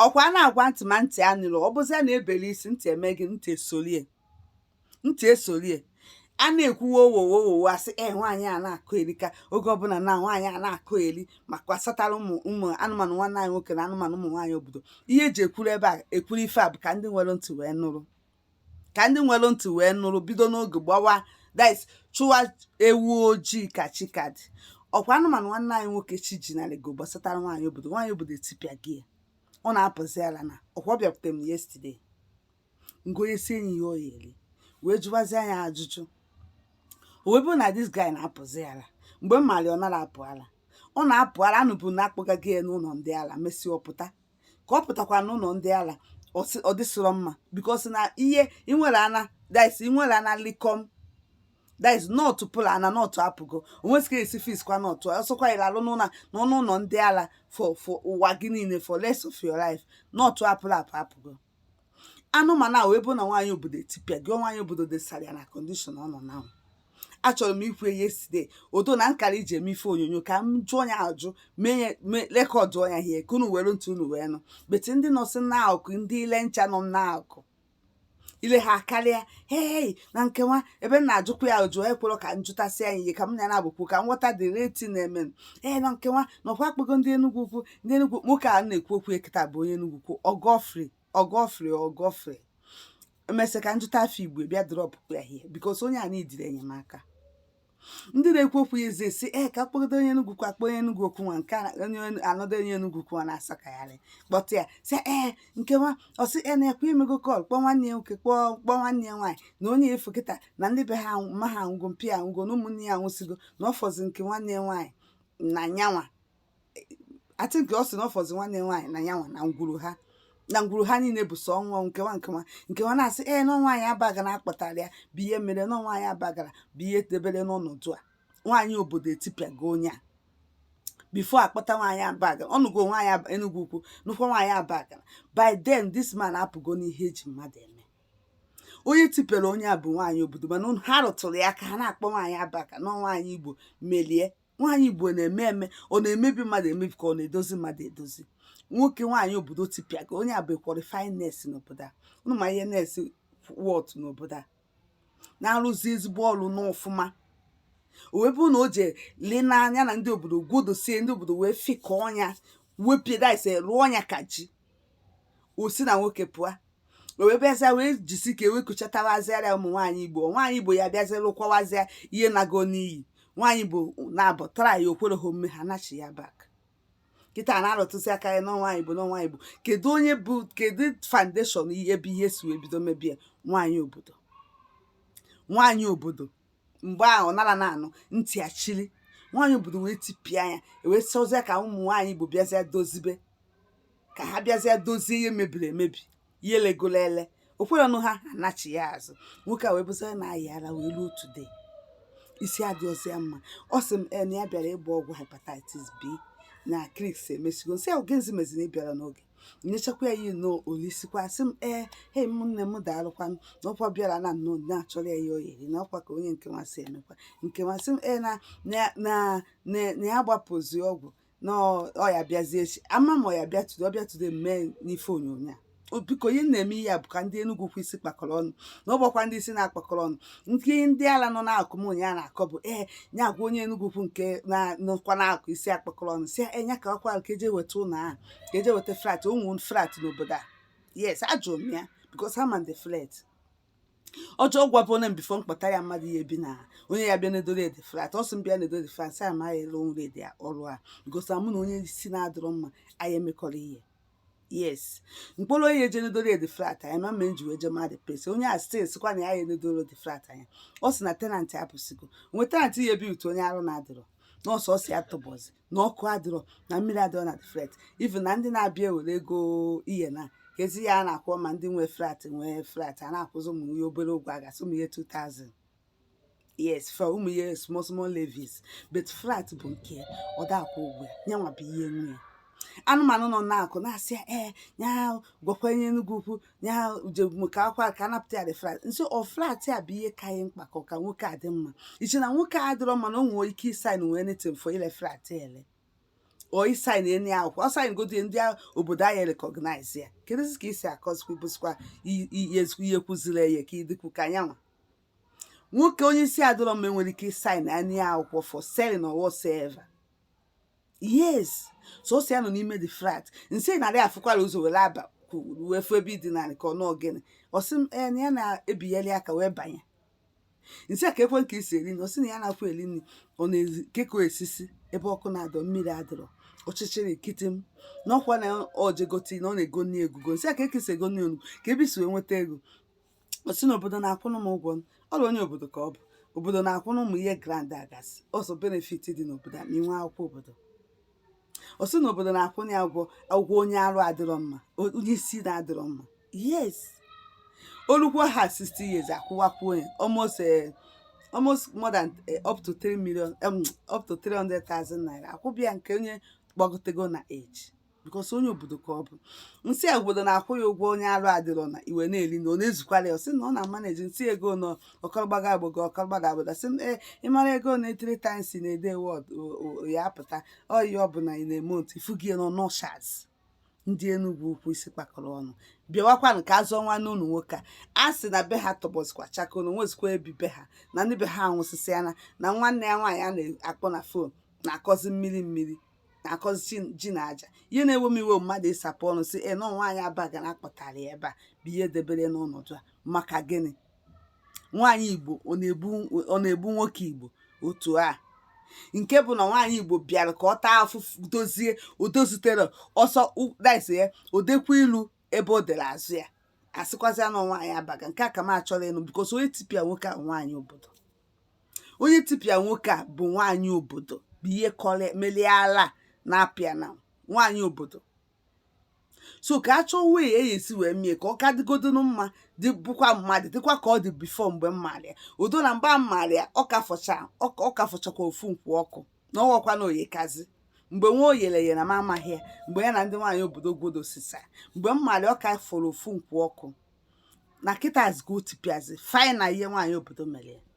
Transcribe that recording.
ọkwa a na-agwa ntị ma ntị anụrọ ọ bụzi a na-ebeli isi ntị eme gịnị esolie ntị esolie a na-ekwuwe owowowowo asị ee nwaanyị a na-akọyerika oge ọbụla na nwaanyị a na-akọyeri ma gbasatara ụmụ ụmụ anụmanụ nwanne anyị nwoke na anụmanụ ụmụ nwaanyị obodo ihe eji ekwuru ebe a ekwuru ife a bụ ka ndị nwere ntị wee nụrụ ka ndị nwere ntị wee nụrụ bido n'oge gbawa dis chụwa ewu ojii ka chi ka dị ọkwa anụmanụ nwanne anyị nwoke chi ji na lego gbasatara nwaanyị obodo nwaanyị obodo etipịago ya ọ na-apụzi ala na ọkwa ọ bịakwute m yesterday m gonyesie nni ya ọ ya-eri wee jụwazia ya ajụjụ o wee bụrụ na this guy na-apụzi ala mgbe m maara ọ narọ apụ ala ọ na-apụ ala anụbụ na akpọgara ya n'ụlọ ndị ala mesịa ọ pụta ka ọ pụtakwa n'ụlọ ndị ala ọ dịsịrọ mma because na ihe inwere ana dis inwere ana likom dis nut pụrụ ana nut apụgo o nwezi ka esi fix kwa nut ọsọkwa ire alụ n'ụlọ na ọnụ ụlọ ndị ala for for ụwa gị niile for rest of your life nut pụrụ apụ apụgo anụmanụ a wee bụ na nwaanyị obodo etipịago nwaanyị obodo dọsara ya na condition ọ nọ na ahụ achọrọ m ikwu yesterday odo na nkara iji eme ife onyonyo ka m jụọ ya ajụ mee ya mee record ya here ka unu were ntị unu wee nụ but ndị nọsị n'akụkụ ndị ile ncha nọ n'akụkụ ile ha karịa hei na nkewa ebe m na-ajụkwa ya ajụ ekwerọ ka m jụtasịa ya ihe ka m na ya na-abụkwu ka m ghọta the real thing na-eme ee na nkewa na ọkwa akpọgo ndị Enugu ukwu ndị Enugu nwoke a na-ekwu okwu ya kịta bụ onye Enugu ukwu ọ Godfrey ọ Godfrey ọ Godfrey emesịa ka m jụta afa igbo bịa drop ya here because onye a needịrị enyemaka ndị na-ekwu okwu ya eze si ee ka kpọgide onye Enugu ukwu a kpọọ onye Enugu ukwu nwa nke a- onye another onye Enugu ukwu ọ na-asakagharị kpọta ya si ee nke nwa ọ sị ee na ọkwa emego call kpọọ nwanne ya nwoke kpọọ kpọọ nwanne ya nwaanyị na onye a fụ kịta na ndị be ha anwụ- mma ha anwụgo mpa ya anwụgo na ụmụnne ya anwụsịgo na ọ fọzi nke nwanne ya nwaanyị na nya nwa I think ọ sị na ọ fọzi nwanne nwaanyị na ya nwa na ngwuru ha na ngwuru ha niile bụ sọ ọnwụ ọnwụ nkewa nkewa nkewa na-asị ee na nwaanyị Abagana kpatara ya bụ ihe mere na nwaanyị Abagana bụ ihe debere n'ọnọdụ a nwaanyị obodo etipịago onye a before akpọta nwaanyị Abagana ọ nụgo nwaanyị Aba- Enugu ukwu nụkwa nwaanyị Abagana by then this man apụgo n'ihe eji mmadụ eme onye tipịara onye a bụ nwaanyị obodo mana ha arụtụrọ ya aka ha na-akpọ nwaanyị Abagana nwaanyị igbo melie nwaanyị igbo na-eme eme ọ na-emebi mmadụ emebi ka ọ na-edozi mmadụ edozi nwoke nwaanyị obodo tipịa ka onye a bụ qualified nurse n'obodo a ụnụ ma ihe nurse worth n'obodo a na-arụzi ezigbo ọrụ n'ọfụma wee bụrụ na o je lee n'anya na ndị obodo gwodosie ndị obodo wee fịkọọ ya wepịa daise rụọ ya ka ji o si na nwoke pụọ o wee bịazịa wee jisi ike wee kuchatawazịara ụmụ nwaanyị igbo nwaanyị igbo ya bịazịa lụkwawazịa ihe nago n'iyi nwaanyị igbo nabatara ya o kwerọ ha omume ha nachi ya back kịta na-arụtụzi aka ya n'ọnwa igbo n'ọnwa igbo kedu onye bụ kedu foundation ebe ihe si wee bido mebie nwaanyị obodo nwaanyị obodo mgbe ahụ nara na-anụ ntị achili nwaanyị obodo wee tipịa ya wee sịzie ka ụmụ nwaanyị igbo bịazie dozibe ka ha bịazie dozie ihe mebiri emebi ihe elegolo ele o kwerọnụ ha anachi ya azụ nwoke a wee bụzi na-ayị ara wee ruo today isi adịrọzi ya mma ọ sị m na ya bịara ịgba ọgwụ hepatitis b na clinic emesigo m sị ya gịnịzi meziri ị bịarọ n'oge nyechakwa ya ihe nnọọ o lisikwa sị m ee hei ụmụnne m daalụkwanụ na ọkwa bịara na nnọọ na-achọrọ ya ihe ọ ya-eri na ọkwa ka onye nke masị emekwa nke masị m ee na na na na na ya gbapụzi ọgwụ na ọ- ọ ya bịazi echi ama m ọ ya bịa today ọ bịa today mee n'ife onyonyo a O, biko ihe m na-eme ihe a bụ ka ndị Enugu ukwu isi kpakọrọ ọnụ na ọ bụkwa ndị isi na-akpakọrọ ọnụ nke ndị ala nọ na-akụ m ụnyaahụ na-akọ bụ ee ya agwa onye Enugu ukwu nke na- nọkwa na-akụ isi akpakọrọ ọnụ sị ya nya ka ọkwa ka e je weta ụlọ ahụ ka e je weta flat o nwere flat n'obodo a yes ajụrụ m ya because ama m the flat ọjọọ gwa bụ na before m kpọta ya mmadụ ya-ebi na onye ya bịa nedoro ya the flat ọ sị m bịa nedoro flat sa ma ya ele onwere ede ọrụ a because mụ na onye isi na-adịrọ mma anyị emekọrọ ihe yes m kpọrọ onye eje nedoro ya the flat anya ma mgbe m ji wee je mmadụ pesi onye a still sịkwa na ya ya-enedoro ya the flat anya ọ sị na tenant apụsigo nwe tenant ya-ebi utu onye arụ na-adịrọ nọọsụ ọ si ya tụbọzi na ọkụ adịrọ na mmiri adịrọ na flat even na ndị na-abịa ewere ego ihe na ezi ya a na-akwụ ma ndị nwe flat nwee flat a na-akwụzi ụmụ ihe obere ụgwọ a gasị ụmụ ihe 2000 yes for ụmụ ihe small small levies but flat bụ nke ọ da-akwụ ụgwọ ya nyanwa bụ ihe nwe ya anụmanụ nọ na-akọ na-asị ya ee ya gwakwa onye Enugu ukwu ya jebụ ka akwa ka anapụta ya the flat m sị ọ flat a bụ ihe ka anyị mkpa ka ọ ka nwoke a dị mma i che na nwoke a dịrọ mma na o nwere ike ịsign anything for ile flat ele or ịsign any akwụkwọ ọ sign godi ndị a- obodo anyị recognize ya kedụzi ka e si akọzikwa bụsikwa i- i- ihe ezikwu ihe kwụziri eye ka ịdịkwu ka nyanwa nwoke onye isi adịrọ mma enwere ike ịsign any akwụkwọ for selling or whatsoever yes sọsọ ya nọ n'ime the flat m sị narị afụkwara ụzọ were aba wee fụ ebe ị dina ka ọ nọọ gịnị ọ sị m ee na ya na-ebigheli aka wee banye m sị ya kee kee ka i si eri nri ọ sị na ya na-akwụ eri nri ọ na-ezi kee ka o si esi ebe ọkụ na-adọ mmiri adịrọ ọchịchịrị nkịtị m na ọkwa na ojegoti na ọ na-ego nri egugo m sị ya kee ka i si ego nri onugbu kee ebe i si wee nweta ego ọ sị na obodo na-akwụrụ m ụgwọ m ọ bụ onye obodo ka ọ bụ obodo na-akwụrụ ụmụ ihe grant a gasị o so benefit dị n'obodo a ma i nwee akwụkwọ obodo ọ sị na obodo na-akwụrụ ya ụgwọ ụgwọ onye arụ adịrọ mma o- onye isi na-adịrọ mma yes o lukwo ha 60 years a kwụwakwuo ya almost eh, almost more than eh, up to 3 million um, up to 300,000 naira a kwụba ya nke onye gbagotego na age because onye obodo ka ọ bụ m sị ya obodo na-akwụ ya ụgwọ onye arụ adịrọ na ihe ọ na-eli na ọ na-ezukwara ya ọ sị na ọ na-amanage m sị ego na ọkọrọgbaga agbago ọkọrọgbaga agbaga sị ee ịmara ego na three times na-ede wọd ya apụta ọyị ọ bụla ị na-eme otu ifu gị nọ nọshaz ndị Enugwu Ukwu isi kpakọrọ ọnụ bịawakwa nke azụ ọnwa na ụlọ nwoke a a sị na be ha tọgbọzikwa chakoo na o nwezikwa ebi be ha na ndị be ha anwụsịsịa na nwanne ya nwaanyị a na-akpọ na phone na-akọzi mmiri mmiri na-akọzi ji na aja ihe na-ewe m iwe mmadụ ịsapụ ọnụ sị na ọ nwaanyị Abagana kpọtara ya ebe a bụ ihe debere n'ọnọdụ a maka gịnị nwaanyị igbo ọ na-egbu nwoke igbo otu a nke bụ na nwaanyị igbo bịara ka ọ taa afụfụ dozie o dozitere ọsọ daiso ya o dekwa ilu ebe o dere azụ ya a sịkwazịa na nwaanyị Abagana nke a ka m achọrọ ịnụ because onye tipịa nwoke a nwaanyị obodo onye tipịa nwoke a bụ nwaanyị obodo bụ ihe kọrọ melie ala na-apịa na nwaanyị obodo so ka a chọọ way e si wee mie ka ọ ka dịgodonu mma dị bụkwa mmadụ dịkwa ka ọ dị before mgbe m mara ya udo na mgbe m mara ya ọ ka fọcha ọ ka- ọ ka fọchakwa ofu nkwụ ọkụ na ọ ghọkwa na oyekazi mgbe nwa oyele ya na m amaghị ya mgbe ya na ndị nwaanyị obodo gwodo sisa mgbe m mara ya ọ ka fọrọ ofu nkwụ ọkụ na kịta azụgo tipịazi fina ihe nwaanyị obodo mere ya